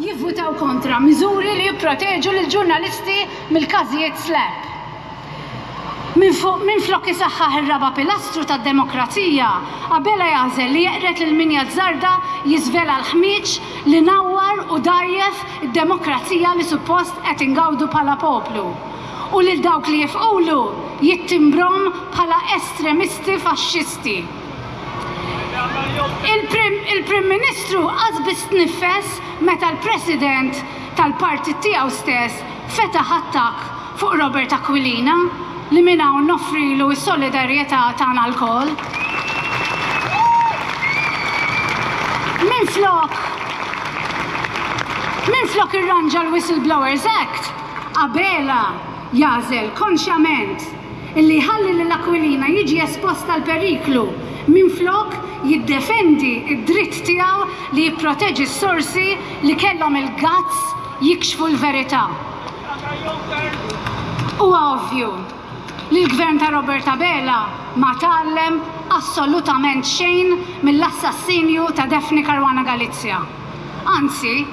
jivvutaw kontra miżuri li jipproteġu lill-ġurnalisti mill-każijiet SLAPP. Minflok isaħħaħ ir-raba' pilastru tad-demokrazija, Abela jagħżel li jeqred lil min jazzarda jiżvela l-ħmieġ li nawwar u dgħajjef id-demokrazija li suppost qed ingawdu bħala poplu, u lil dawk li jifqulu jittimbrom bħala estremisti faxxisti. Il-Prim Ministru qas biss tniffes meta l-President tal-partit tiegħu stess fetaħ attakk fuq Robert Aquilina li minn hawn noffrilu s-solidarjetà tagħna lkoll. Minflok minflok irranġa l-Whistleblowers Act, Abela jagħżel konxjament li jħalli lil Aquilina jiġi espost għal periklu minflok jiddefendi d-dritt tiegħu li jipproteġi s-sorsi li kellhom il-guts jikxfu l-verità. Huwa ovvju li l-Gvern ta' Robert Abela ma tgħallem assolutament xejn mill-assassinju ta' Daphne Caruana Galizia. Anzi,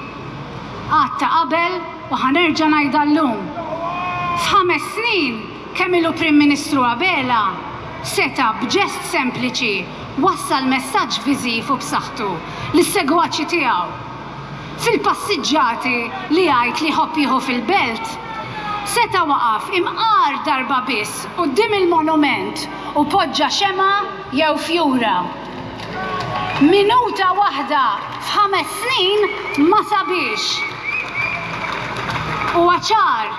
qatt ta' qabel, U ħa nerġa' ngħidha llum. F'ħames snin kemm ilu Prim Ministru Abela seta' b'ġest sempliċi wassal messaġġ viżiv u b'saħħtu lis-segwaċi tiegħu. Fil-passiġġati li jgħid li jħobb jieħu fil-Belt, seta' waqaf imqar darba biss quddiem il-monument u poġġa xemgħa jew fjura. Minuta waħda f'ħames snin ma sabiex. Huwa ċar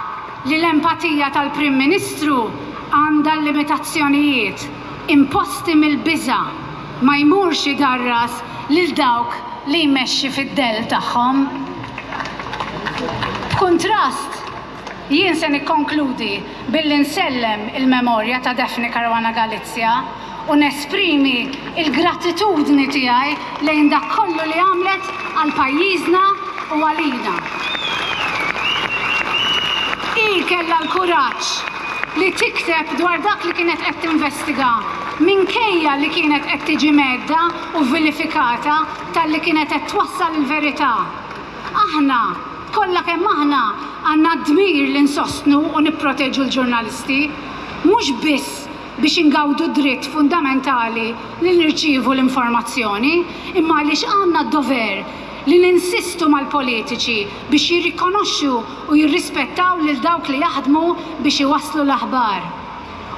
li l-empatija tal-Prim Ministru għandha l-limitazzjonijiet imposti mill-biża' ma jmurx idarras lil dawk li jmexxi fid-dell tagħhom. B'kuntrast, Jien se nikkonkludi billi nsellem il-memorja ta' Daphne Caruana Galizia u nesprimi l-gratitudni tiegħi lejn dak kollu li għamlet għal pajjiżna u għalina. Hi kellha l-kuraġġ li tikteb dwar dak li kienet qed tinvestiga minkejja li kienet qed tiġi mhedda u vilifikata talli kienet qed twassal il-verità. Aħna Kollha kemm aħna għandna d-dmir li nsostnu u nipproteġu l-ġurnalisti, mhux biss biex ingawdu d-dritt fundamentali li nirċievu l-informazzjoni, imma għaliex għandna d-dover li ninsistu mal-politiċi biex jirrikonoxxu u jirrispettaw lil dawk li jaħdmu biex iwasslu l-aħbar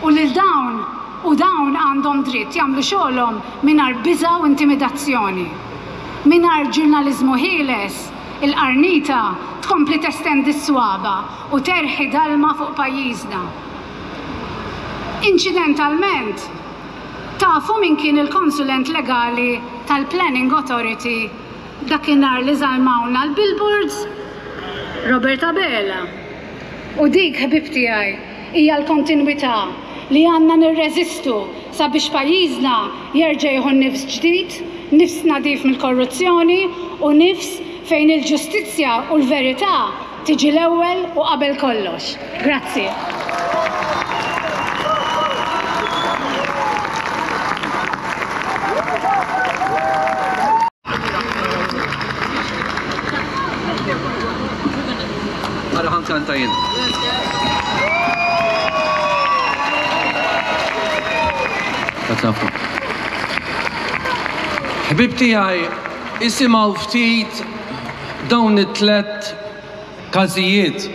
u lil dawn u dawn għandhom dritt jagħmlu xogħolhom mingħajr biża' u intimidazzjoni. Mingħajr ġurnaliżmu ħieles, Il-qarnita tkompli testendi s-swaba' u terħi dalma fuq pajjiżna. Inċidentalment, tafu min kien il-konsulent legali tal-Planning Authority dakinhar li żalmawna l-billboards? Robert Abela. U dik, ħbieb tiegħi, hija l-kontinwità li għandna nirreżistu sabiex pajjiżna jerġa' jieħu n-nifs ġdid, nifs nadif mill-korruzzjoni u nifs fejn il-ġustizzja u l-verità tiġi l-ewwel u qabel kollox. Grazzi. Ara ħan kanta jien. Ħbib tiegħi isimgħu ftit dawn it-tlet każijiet.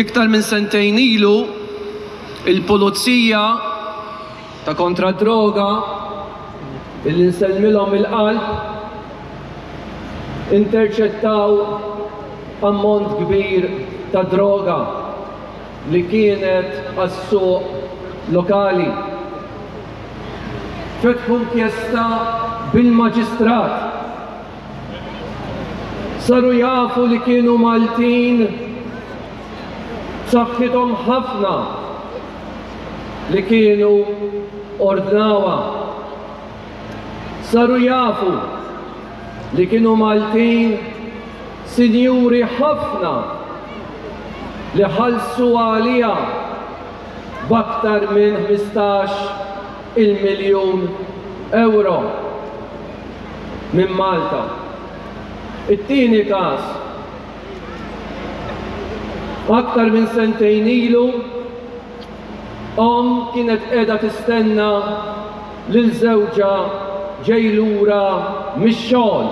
Iktar minn sentejn ilu il-pulizija Ta' kontra d-droga billi nsellmilhom mill-qalb interċettaw ammont kbir ta' droga li kienet għas-suq lokali. Fetħu inkjesta bil-Maġistrat. Saru jafu li kienu Maltin. b'saħħithom ħafna li kienu ordnawha. Saru jafu li kienu Maltin sinjuri ħafna li ħallsu għaliha b'aktar minn ħmistax il-miljun ewro minn Malta. It-tieni każ, Aktar minn sentejn ilu, omm kienet qiegħda tistenna lil żewġha ġej lura mix-xogħol.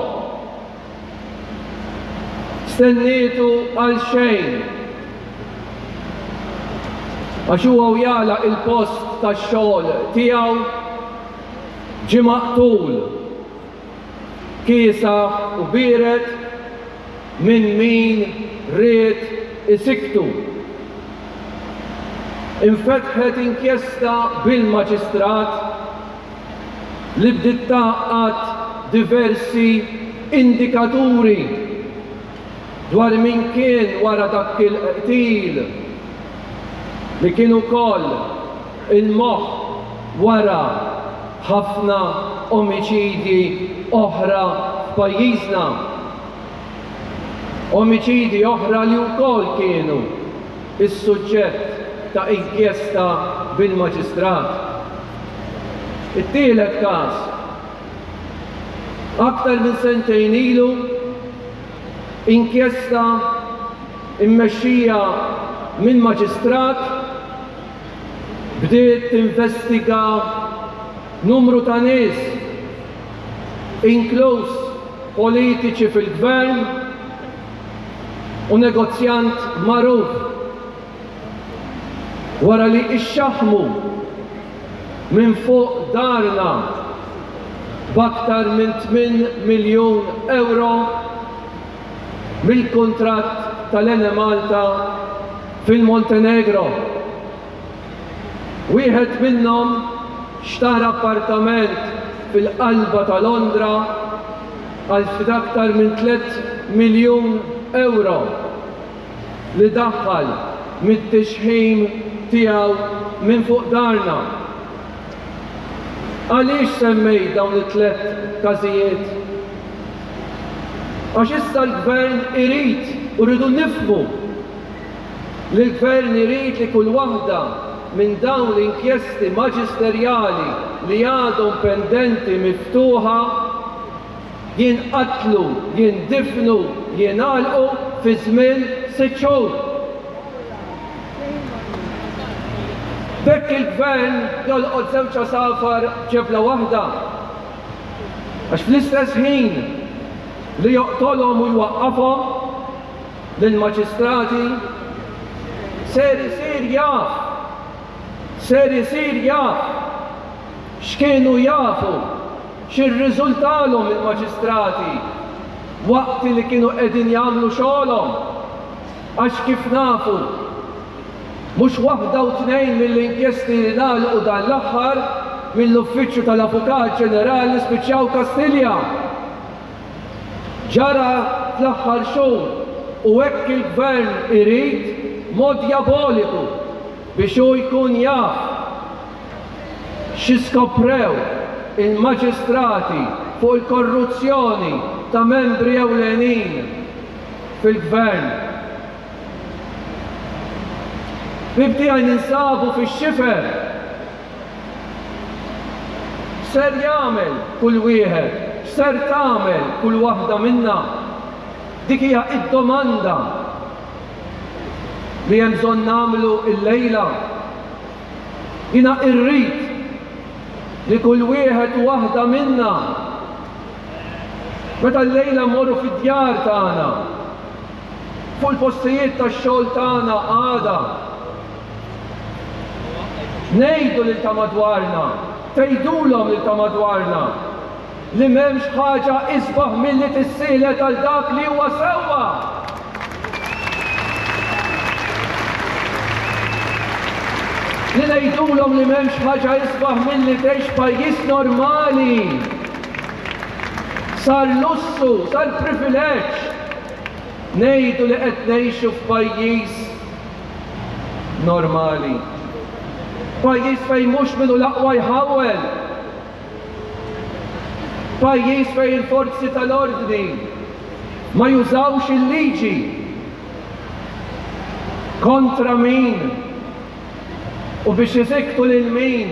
Stennietu għal xejn għax huwa u jagħlaq il-post tax-xogħol tiegħu ġie maqtul. kiesaħ u biered minn min ried isiktu. Infetħet inkjesta bil-Maġistrat li bdiet tgħaqqad diversi indikaturi dwar min kien wara dak il-qtil li kien ukoll il-moħħ wara ħafna omiċidji oħra f'pajjiżna. Omiċidji oħra li wkoll kienu s-suġġett ta' inkjesta bil-Maġistrat. It-tielet każ, aktar minn sentejn ilu, inkjesta mmexxija minn Maġistrat, bdiet tinvestiga numru ta' nies, inkluż politiċi fil-Gvern u negozjant magħruf, wara li ixxaħħmu minn fuq darna b'aktar minn tmien miljun ewro mill-kuntratt tal-Enemalta fil-Montenegro. Wieħed minnhom xtara appartament fil-qalba ta' Londra għal ftit aktar minn tliet miljun ewro li daħħal mit-tixħim tiegħu minn fuq darna. Għaliex semmejt dawn it-tliet każijiet? Għax issa l-Gvern irid u rridu nifhmu li l-Gvern irid li kull waħda minn dawn l-inkjesti maġisterjali li għadhom pendenti miftuħa jinqatlu, jindifnu, jingħalqu fi żmien sitt xhur. B'hekk il-Gvern jolqot żewġ għasafar b'ġebla waħda għax fl-istess ħin li joqtolhom u jwaqqafhom, lill-maġistrati ser isir jaf, ser isir jaf x'kienu jafu, x'irriżultalhom il-maġistrati waqt li kienu qegħdin jagħmlu xogħolhom għax kif nafu mhux waħda u tnejn mill-inkjesti li ngħalqu dan l-aħħar mill-Uffiċċju tal-Avukat Ġenerali spiċċaw Kastilja. Ġara fl-aħħar xhur u hekk il-Gvern irid mod djaboliku biex hu jkun jaf xi skoprew il-Maġistrati fuq il-korruzzjoni ta' membri ewlenin fil-Gvern. Ħbieb tiegħi ninsabu fix-xifer. X'ser jagħmel kull wieħed? X'ser tagħmel kull waħda minna? Dik hija d-domanda li hemm bżonn nagħmlu llejla. Jiena irrid li kull wieħed u waħda minna, meta llejla mmorru fid-djar tagħna, fuq il-postijiet tax-xogħol tagħna għada, Ngħidu lil ta' madwarna, tgħidulhom lil ta' madwarna, li m'hemmx ħaġa isbaħ milli tissielet għal dak li huwa sewwa! Li ngħidulhom li m'hemmx ħaġa isbaħ milli tgħix f'pajjiż normali! Sar lussu, sar privileġġ! Ngħidu li qed ngħixu f'pajjiż normali. Pajjiż fejn mhux min hu l-aqwa jħawwel. Pajjiż fejn il-forzi tal-ordni ma jużawx il-liġi kontra min u biex iżiktu lil min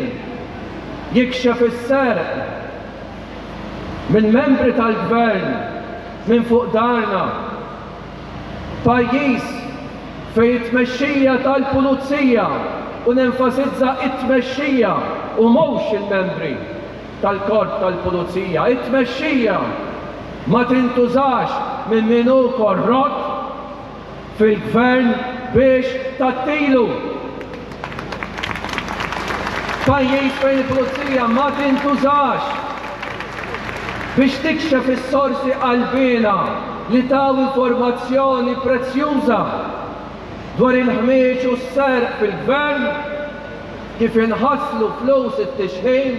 jikxef is-serq minn membri tal-Gvern minn fuq darna. F'pajjiż fejn it-tmexxija tal-pulizija, u nenfasizza it-tmexxija u mhux il-membri tal-korp tal-pulizija, it-tmexxija ma tintużax minn min hu korrott fil-gvern biex tgħattilu. Pajjiż fejn il-pulizija ma tintużax biex tikxef is-sorsi qalbiena li taw informazzjoni prezzjuża dwar il-ħmieġ u s-serq fil-Gvern, kif inħasslu flus it-tixħim,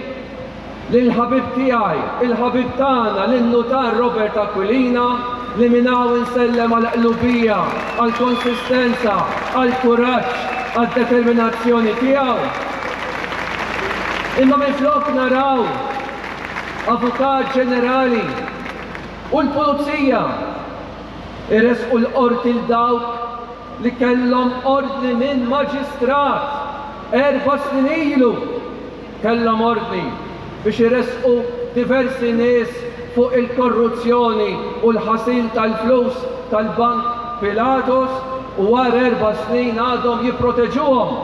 lill-ħabib tiegħi, il-ħabib tagħna, lin-Nutar Robert Aquilina, li minn hawn insellem għall-qlubija, għall-konsistenza, għall-kuraġġ, għad-determinazzjoni tiegħu. Imma minflok naraw Avukat Ġenerali u l-Pulizija jressqu l-Qorti 'l dawk li kellhom ordni minn Maġistrat erba' snin ilu, kellhom ordni biex iressqu diversi nies fuq il-korruzzjoni u l-ħasil tal-flus tal-Bank Pilatus u għal erba' snin għadhom jipproteġuhom.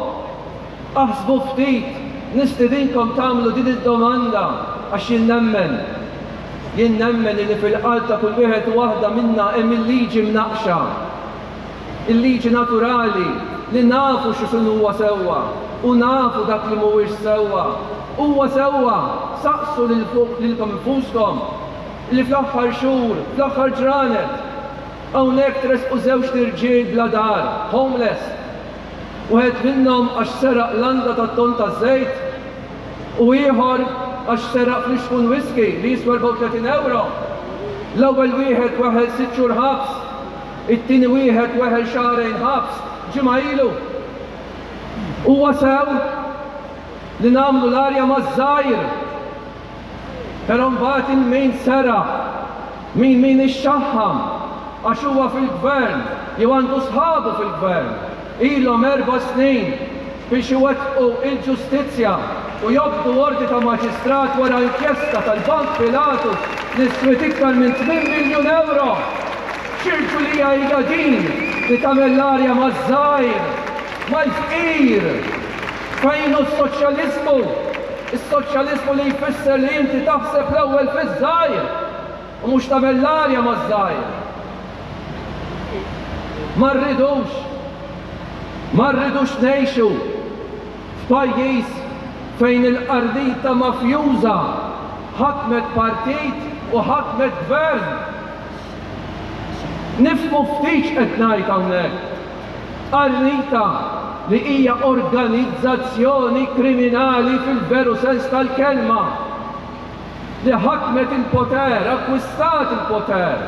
Aħsbu ftit, nistidinkom tagħmlu din id-domanda għax jien nemmen, jien nemmen illi fil-qalb ta' kull wieħed u waħda minna hemm il-liġi mnaqqxa. il-liġi naturali li nafu x'inhuwa sewwa u nafu dak li mhuwiex sewwa. Huwa sewwa, saqsu lil fuq lilkom infuskom, li fl-aħħar xhur, fl-aħħar ġranet, hawnhekk tresqu żewġt irġiel bla dar, homeless, wieħed minnhom għax seraq landa tat-tonn taż-żejt u ieħor għax seraq flixkun whiskey li jiswa 34 ewro. L-ewwel wieħed weħel sitt xhur ħabs. It-tieni wieħed weħel xahrejn ħabs ġimgħa ilu. Huwa sew li nagħmlu l-arja maż-żgħir, però mbagħad il-min seraħ, min min ixxaħħam għax huwa fil-Gvern jew għandu sħabu fil-Gvern, ilhom erba' snin biex iwettqu l-ġustizzja u jobdu ordni ta' maġistrat wara inkjesta tal-Bank Pilatus li swiet iktar minn tmien miljun ewro! Xi rġulija hija din li tagħmel l-għarja maż-żgħir, mal-fqir! Fejn hu s-soċjaliżmu? Is-soċjaliżmu li jfisser li inti taħseb l-ewwel fiż-żgħir! U mhux tagħmel l-għalja maż-żgħir. Ma rridux, ma rridux ngħixu f'pajjiż fejn il-qardita mafjuża ħakmet partit u ħakmet gvern. Nifhmu ftit x'qed ngħid hawnhekk. Qarrita li hija organizzazzjoni kriminali fil-veru sens tal-kelma. li ħakmet il-poter, akkwistat il-poter,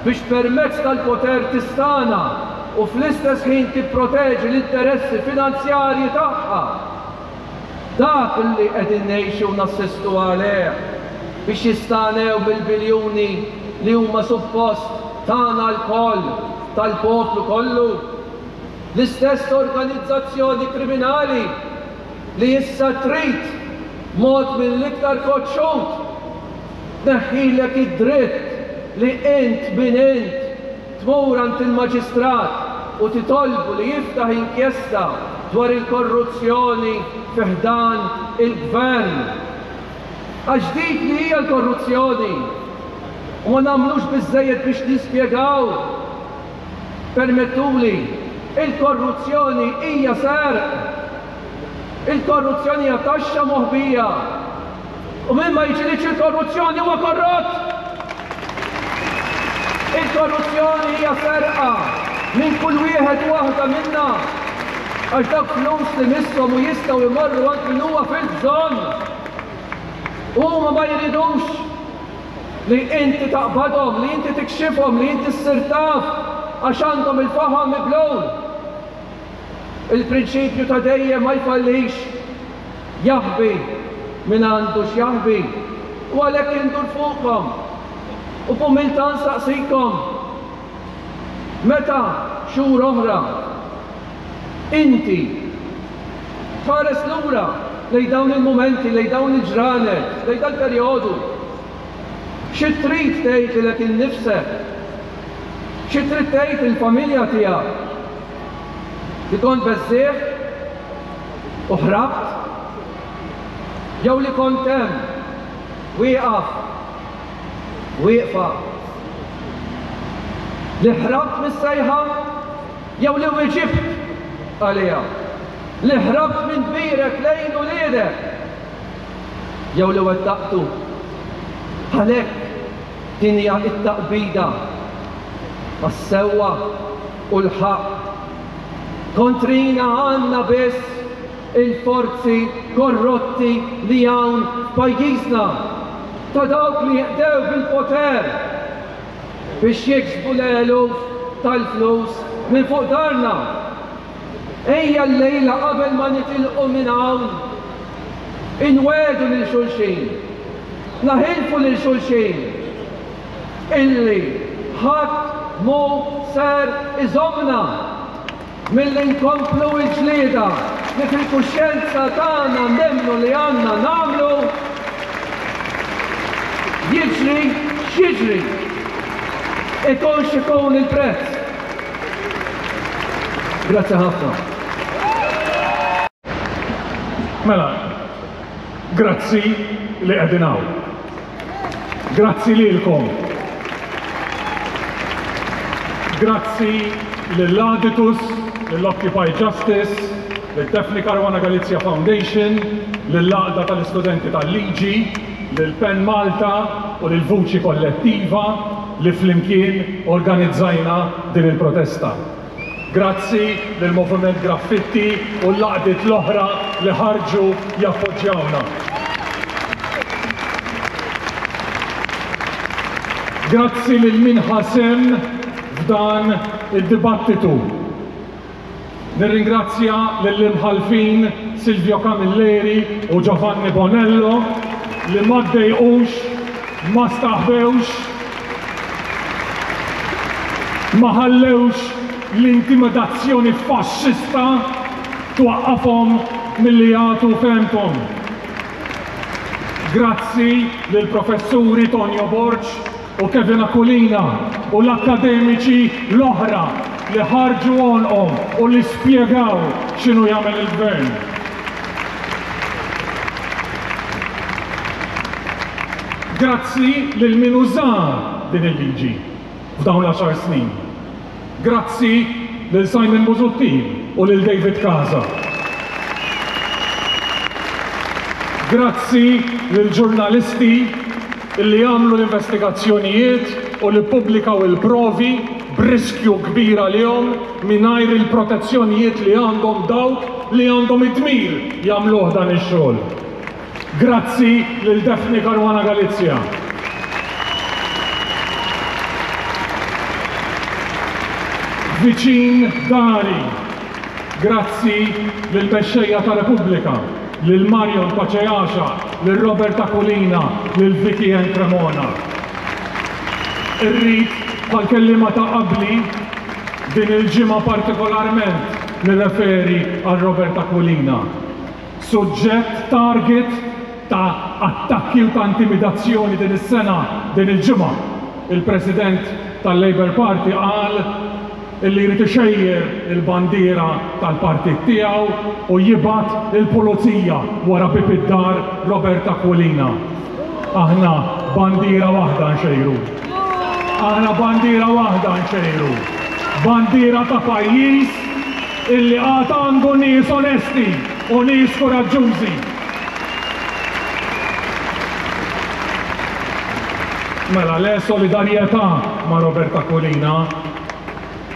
biex permezz tal-poter tistana u fl-istess ħin tipproteġi l-interessi finanzjarji tagħha. Dak li qegħdin ngħixu u nassistu għalih biex jistanew mill-biljuni li huma suppost tagħna lkoll, tal-poplu kollu. L-istess organizzazzjoni kriminali. li issa trid, b'mod mill-iktar koċċut, tneħħilek id-dritt li int min int tmur għand il-Maġistrat u titolbu li jiftaħ inkjesta dwar il-korruzzjoni fi ħdan il-Gvern. Għax dik li hija l-korruzzjoni u ma nagħmlux biżżejjed biex nispjegaw. Permettuli, il-korruzzjoni hija serq! Il-korruzzjoni hija taxxa moħbija! U min ma jiġilidx il-korruzzjoni huwa korrott! Il-korruzzjoni hija serqa minn kull wieħed u waħda minna għax dawk flus li misshom u jistgħu jmorru għand min huwa fil-bżonn! Huma ma jridux! li inti taqbadhom, li inti tikxifhom, li inti ssir taf għax għandhom il-faħam mibluw. Il-prinċipju ta' dejjem ma jfallix, jaħbi min għandu x'jaħbi, u għalhekk indur fuqkom u b'umiltà nsaqsikom, meta xhur oħra inti Tħares lura lejn dawn il-mumenti, lejn dawn il-ġranet, lejn dal-perjodu. Xi trid tgħid lilek innifsek? Xi trid tgħid lill-familja tiegħek? Li kont beżżgħet u ħrabt? Jew li kont hemm, wieqaf, wieqfa? Li ħrabt mis-sejħa? Jew li wieġibt għaliha. Li ħrabt minn kbirek lejn uliedek. Jew li wettaqtu. Għalhekk, din hija t-taqbida għas-sewwa u l-ħaqq. Kontrina għandna biss il-forzi korrotti li hawn f'pajjiżna, ta' dawk li qdew bil-poter. biex jiksbu l-eluf tal-flus minn fuq darna. Ejja llejla qabel ma nitilqu minn hawn inwegħdu lil xulxin, naħilfu lil xulxin illi ħadd mhu ser iżommna. Milli nkomplu l-ġlieda li fil-kuxjenza tagħna nemmnu li għandna nagħmlu, jiġri x'jiġri, ikun x'ikun il-prezz. Grazzi ħafna. Mela, grazzi li qegħdin hawn. Grazzi lilkom. Grazzi lil Aditus, lil Occupy Justice, lid Daphne Caruana Galizia Foundation, lill-Għaqda tal-Istudenti tal-Liġi, lil pen Malta u lil Vuċi Kollettiva li flimkien organizzajna din il-protesta. Grazzi lill-Moviment Graffitti u l-għaqdiet l-oħra li ħarġu jappoġġjawna. Grazzi lil min ħa sehem f'dan id-dibattitu. Nirringrazzja lill-Imħallfin Silvio Camilleri u Giovanni Bonello li ma ddejqux, ma staħbewx, Ma ħallewx l-intimidazzjoni faxxista twaqqafhom milli jagħtu fehmthom. Grazzi lill-Professuri Tonio Borg u Kevin Aquilina u l-akkademiċi l-oħra li ħarġu għonqhom u li spjegaw x'inhu jagħmel il-Gvern. Grazzi lil min uża din il-liġi f'dawn l-għaxar snin. Grazzi lil Simon Busuttil u lil David Casa. Grazzi lill-ġurnalisti, li jagħmlu l-investigazzjonijiet u li ppubblikaw il-provi b'riskju kbir għalihom mingħajr il-protezzjonijiet li għandhom dawk li għandhom id-dmir jagħmluh dan ix-xogħol. Grazzi lil Daphne Caruana Galizia. Viċin dari. Grazzi lill-Mexxejja ta' Repubblika. lil Marion Paceasha, lil Robert Aquilina, lil Vicky Anne Cremona. Irrid, bħall-kelliema ta' qabli, din il-ġimgħa partikolarment nirreferi għal Robert Aquilina, suġġett target ta' attakki u ta' intimidazzjoni din is-sena, din il-ġimgħa, il-President tal-Labour Party qal, illi jrid ixejjer il-bandiera tal-partit tiegħu u jibgħat il-pulizija wara bieb id-dar Robert Aquilina. Aħna bandiera waħda nxejru. Aħna bandiera waħda nxejru. Bandiera ta' pajjiż illi għad għandu nies onesti u nies kuraġġużi. Mela le solidarjetà ma' Robert Aquilina.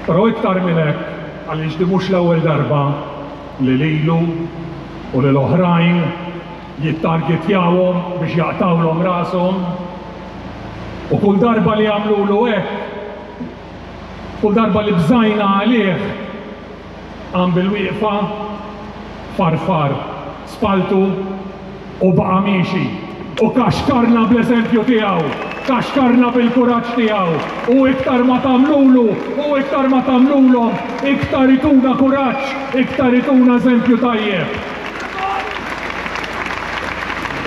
Però iktar minn hekk għaliex din mhux l-ewwel darba li lilu u lil oħrajn jittargetjawhom biex jaqtgħulhom rashom. U kull darba li għamlulu hekk, kull darba li bżajna għalih, Qam bil-wieqfa, farfar spalltu u baqa' miexi u kaxkarna bl-eżempju tiegħu, kaxkarna bil-kuraġġ tiegħu u iktar ma tagħmlulu u iktar ma tagħmlulhom iktar ituna kuraġġ, iktar ituna eżempju tajjeb.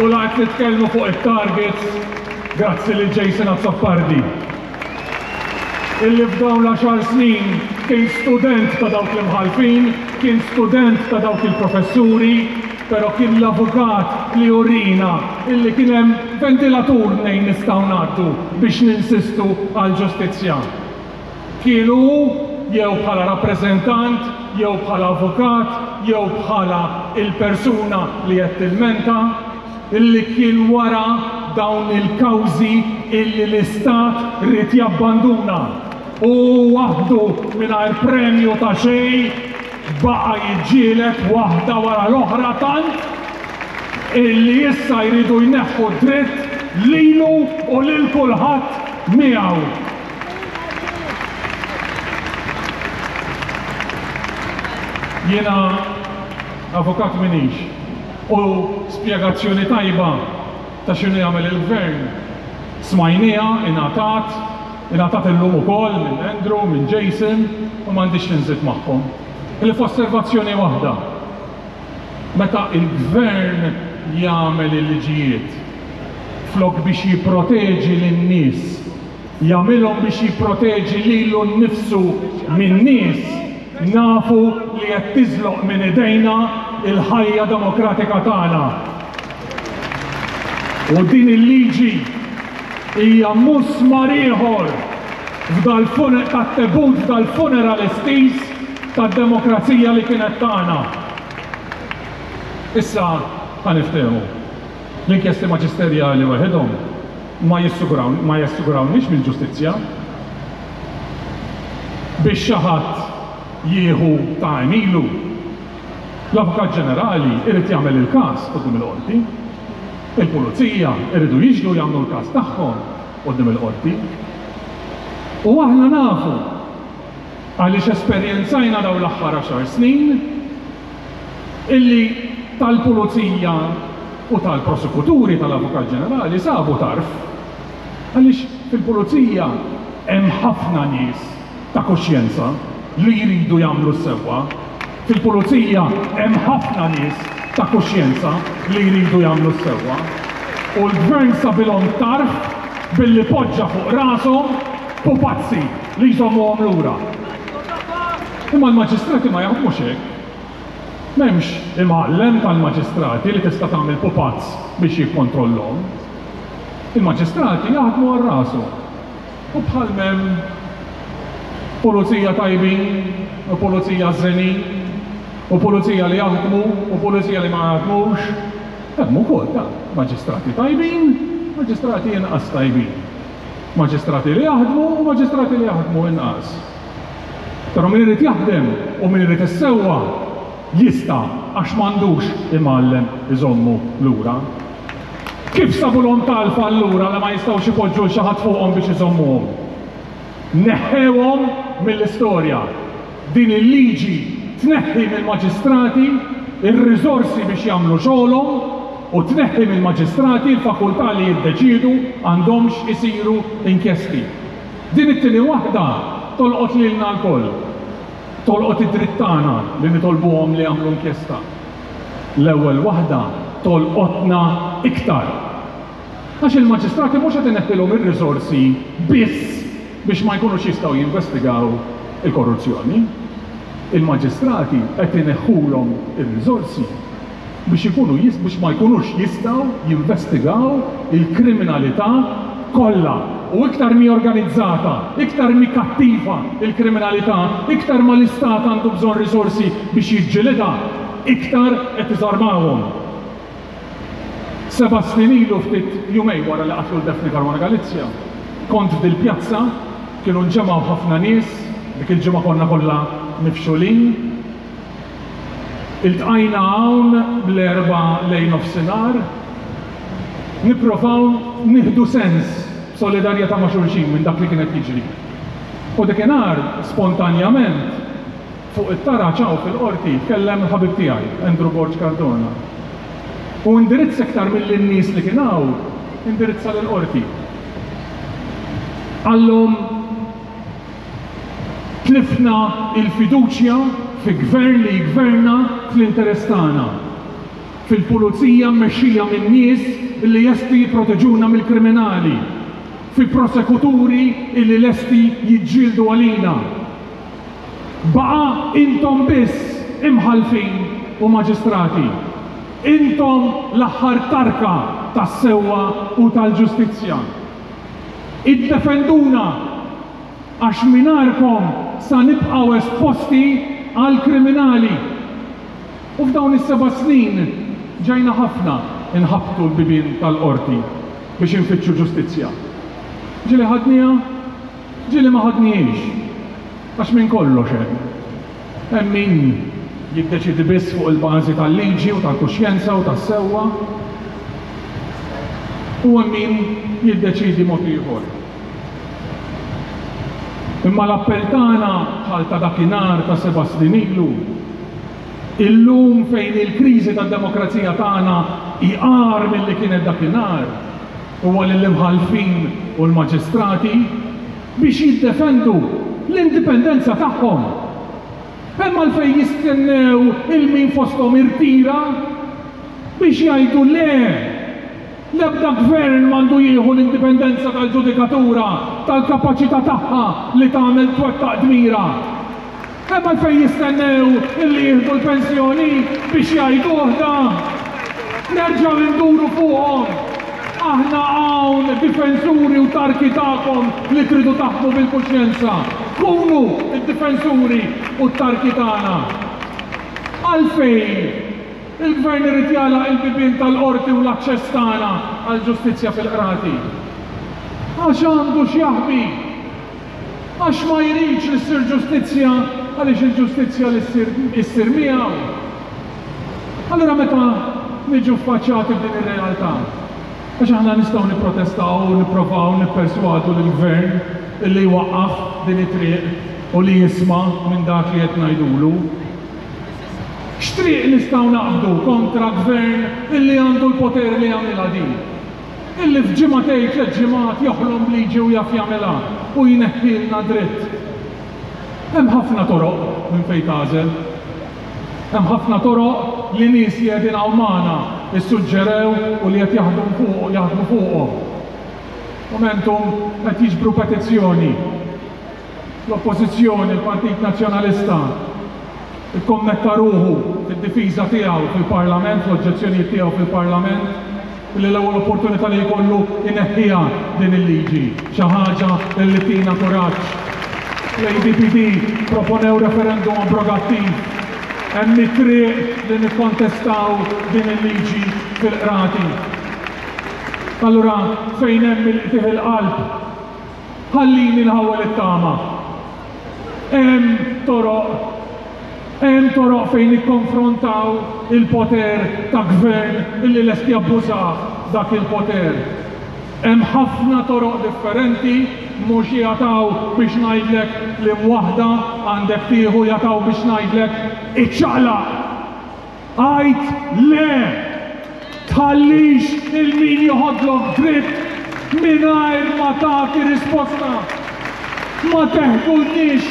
U la qed nitkellmu fuq it-targets, grazzi lil Jason Azzopardi. illi f'dawn l-għaxar snin kien student ta' dawk l-imħallfin, kien student ta' dawk il-professuri, pero' kien l-avukat li urina illi kien hemm ventilatur mnejn nistgħu ngħaddu biex ninsistu għall-ġustizzja. Kien hu, jew bħala rappreżentant, jew bħala avukat, jew bħala il-persuna li qed tilmenta, li kien wara dawn il-kawżi illi l-Istat ried jabbanduna u hu waħdu mingħajr premju ta' xejn baqa' jiġġieled waħda wara l-oħra tant illi issa jridu jneħħu d-dritt lilu u lil kulħadd miegħu. Jiena avukat m'iniex. U spjegazzjoni tajba ta' x'inhu jagħmel il-Gvern smajnieha, ingħatat, ingħatat illum ukoll minn Andrew, minn Jason u m'għandix xi nżid magħhom. Ħlief osservazzjoni waħda, meta l-Gvern jagħmel il-liġijiet flok biex jipproteġi lin-nies jagħmilhom biex jipproteġi lilu nnifsu minn nies nafu li qed tiżloq minn idejna l-ħajja demokratika tagħna. U din il-liġi hija musmar ieħor f'dal-funeral tat-tebut dal-funeral estiż tad-demokrazija li kienet tagħna. Issa ħa niftehmu. L-inkjesti maġisterjali waħedhom ma jassigurawniex mill-ġustizzja. Biex xi ħadd jieħu ta' għemilu, l-Avukat Ġenerali jrid jagħmel il-każ quddiem il-Qorti. Il-Pulizija jridu jixhdu jagħmlu l-każ tagħhom quddiem il-Qorti. U aħna nafu, għaliex esperjenzajna dawn l-aħħar għaxar snin, illi tal-Pulizija u tal-Prosekuturi tal-Avukat Ġenerali sabu tarf għaliex fil-Pulizija hemm ħafna nies ta' kuxjenza li jridu jagħmlu s-sewwa, fil-Pulizija hemm ħafna nies ta' kuxjenza li jridu jagħmlu s-sewwa u l-Gvern sabilhom tarf billi poġġa fuq rashom pupazzi li jżommuhom lura. Imma l-maġistrati ma jaħdmux hekk. M'hemmx imgħallem tal-maġistrati li tista' tagħmel pupazz biex jikkontrollhom. Il-maġistrati jaħdmu għal rashom. U bħal m'hemm pulizija tajbin u pulizija ħżenin u pulizija li jaħdmu u pulizija li ma jaħdmux, hemm ukoll, ta', maġistrati tajbin, maġistrati inqas tajbin. Maġistrati li jaħdmu u maġistrati li jaħdmu inqas. Però min irid jaħdem u min irid is-sewwa jista' għax m'għandux imgħallem iżommu lura. Kif sabulhom talfa allura li ma jistgħux ipoġġu 'l xi ħadd fuqhom biex iżommuhom? Neħħewhom mill-istorja. Din il-liġi tneħħi mill-maġistrati r-riżorsi biex jagħmlu xogħolhom u tneħħi mill-maġistrati l-fakultà li jiddeċiedu għandhomx isiru inkjesti. Din it-tieni waħda tolqot lilna lkoll. Tolqot id-dritt tagħna li nitolbuhom li jagħmlu inkjesta. L-ewwel waħda tolqotna iktar. Għax il-maġistrati mhux qed ineħħilhom ir-riżorsi biss biex ma jkunux jistgħu jinvestigaw il-korruzzjoni. Il-maġistrati qed ineħħulhom ir-riżorsi biex ikunu biex ma jkunux jistgħu jinvestigaw il-kriminalità kollha. U iktar m'hi organizzata, iktar m'hi kattiva l-kriminalità, iktar ma l-istat għandu bżonn riżorsi biex jiġġilidha, iktar qed iżarmahom. Seba' snin ilu ftit jumejn wara li qatlu 'l Daphne Caruana Galizia kont f'dil pjazza, kienu nġemgħu ħafna nies, dik il-ġimgħa konna kollha mifxulin. Iltqajna hawn l-Erbgħa lejn nofsinhar. Nipprovaw nieħdu sens b'solidarjetà ma' xulxin minn dak li kien qed jiġri. U dikinhar, spontanjament, Fuq it-taraġ hawn fil-Qorti jitkellem il-ħabib tiegħi, Andrew Borg Cardona. Hu indirizz iktar milli n-nies li kien hawn, indirizza lill-Qorti. Qallhom tlifna l-fiduċja fi Gvern li jgverna fl-interess tagħna, fil-Pulizija mmexxija minn nies li lesti jipproteġuna mill-kriminali, fi prosekuturi li lesti jiġġieldu għalina. Baqa' intom biss imħallfin u maġistrati. Intom l-aħħar tarka tas-sewwa u tal-ġustizzja. Iddefenduna għax mingħajrkom sa nibqgħu esposti għall-kriminali. U f'dawn is-seba' snin ġejna ħafna nħabbtu l-bibien tal-Qorti biex infittxu ġustizzja. Ġieli ħadniha? Ġieli ma ħadnihiex, għax minn kollox hemm. Hemm min jiddeċiedi biss fuq il-bażi tal-liġi u tal-kuxjenza u tas-sewwa, u hemm min jiddeċiedi mod ieħor. Imma l-appell tagħna, bħal ta' dakinhar ta' seba' snin ilu, illum fejn il-kriżi tad-demokrazija tagħna hi agħar milli kienet dakinhar, Huwa lill-imħallfin u l-maġistrati biex jiddefendu l-indipendenza tagħhom. Hemm għalfejn jistennew il min fosthom irtira biex jgħidu le! L-ebda gvern m'għandu jieħu l-indipendenza tal-ġudikatura, tal-kapaċità tagħha li tagħmel twettaq dmirha. Hemm għalfejn jistennew illi jieħdu l-pensjoni biex jgħiduh dan. Nerġgħu induru fuqhom. Aħna hawn difensuri u tarki tagħkom li tridu taħkmu bil-kuxjenza. Kunu d-difensuri u t-tarki tagħna. Għalfejn il-Gvern irid jagħlaq il-bibien tal-Qorti u l-aċċess tagħna għall-ġustizzja fil-Qrati? Għax għandu x'jaħbi. Għax ma jridx li ssir ġustizzja, għaliex il-ġustizzja li ssir hi ssir miegħu. Allura meta niġu ffaċċati b'din ir-realtà, għax aħna nistgħu nipprotestaw u nipprovaw nipperswadu lill-Gvern illi jwaqqaf din it-triq u li jisma' minn dak li qed ngħidulu. X'triq nistgħu naqbdu kontra Gvern illi għandu l-poter li jagħmilha din? Illi f'ġimgħa tgħid tliet ġimgħat joħlom b'liġi u jaf jagħmilha u jneħħilna dritt. Hemm ħafna toroq minn fejn tagħżel. Hemm ħafna toroq li nies li qegħdin hawn magħna issuġġerew u li qed jaħdmu fuq jaħdmu fuqhom. Momentum qed jiġbru petizzjoni. L-Oppożizzjoni, il-Partit Nazzjonalista, ikkommetta ruħu fid-difiża tiegħu fil-Parlament, fl-oġġezzjonijiet tiegħu fil-Parlament, billi l-ewwel opportunità li jkollu jneħħiha din il-liġi, xi ħaġa li tina kuraġġ. L-ADPD proponew referendum abrogattiv. Hemm it-triq li nikkontestaw din il-liġi fil-qrati. Allura fejn hemm il-qtigħ il-qalb? Ħallini nħawwel it-tama. Hemm toroq, hemm toroq fejn nikkonfrontaw il-poter ta' gvern illi lest jabbuża dak il-poter. Hemm ħafna toroq differenti, mhux jataw biex ngħidlek liem waħda għandek tieħu jataw biex ngħidlek iċċaqlaq! Għid le! Tħallix lil min joħodlok dripp mingħajr ma tagħti risposta. Ma teħdulniex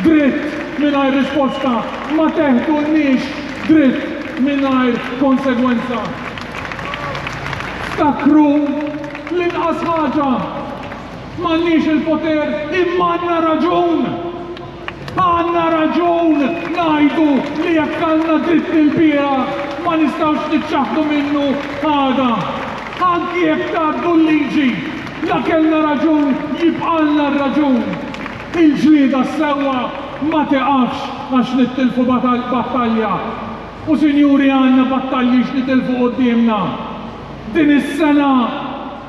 dritt mingħajr risposta, ma teħdulniex dritt mingħajr konsegwenza. Ftakru l-inqas ħaġa, m'għandniex il-poter imma għandna raġun! Għandna raġun ngħidu li jekk kellna dritt ilbieraħ ma nistgħux niċċaħħdu minnu għada. Anki jekk ngħaddu l-liġi, la kellna raġun jibqgħalna r-raġun. Il-ġlieda s-sewwa ma tiqafx għax nittilfu battalja. U sinjuri għandna battalji x'nitilfu quddiemna. Din is-sena.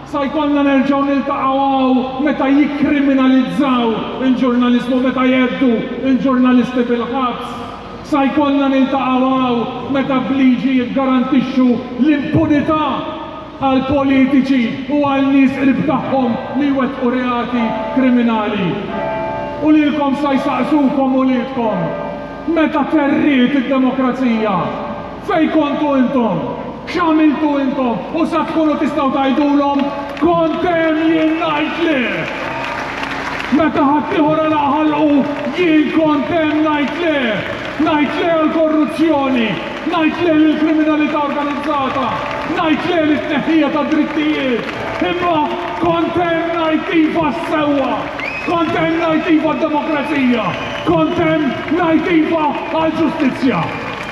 Sa jkollna nerġgħu niltaqgħu hawn meta jikkriminalizzaw il-ġurnaliżmu, meta jheddu l-ġurnalisti bil-ħabs. Sa jkollna niltaqgħu hawn meta b'liġi jiggarantixxu l-impunità għal politiċi u għal nies qrib tagħhom li jwettqu reati kriminali. U lilkom sa jsaqsukom uliedkom, Meta terriet id-demokrazija? Fejn kontu intom? X'għamiltu intom? U sa tkunu tistgħu tgħidulhom, 'Kont hemm jien ngħid le! Meta ħaddieħor għalaq ħalqu, jien kont hemm ngħid le! Ngħid le għall-korruzzjoni, ngħid le lill-kriminalità organizzata, ngħid le lit-tneħħija tad-drittijiet, imma kont hemm ngħid iva għas-sewwa, kont hemm ngħid iva għad-demokrazija, kont hemm ngħid iva għall-ġustizzja.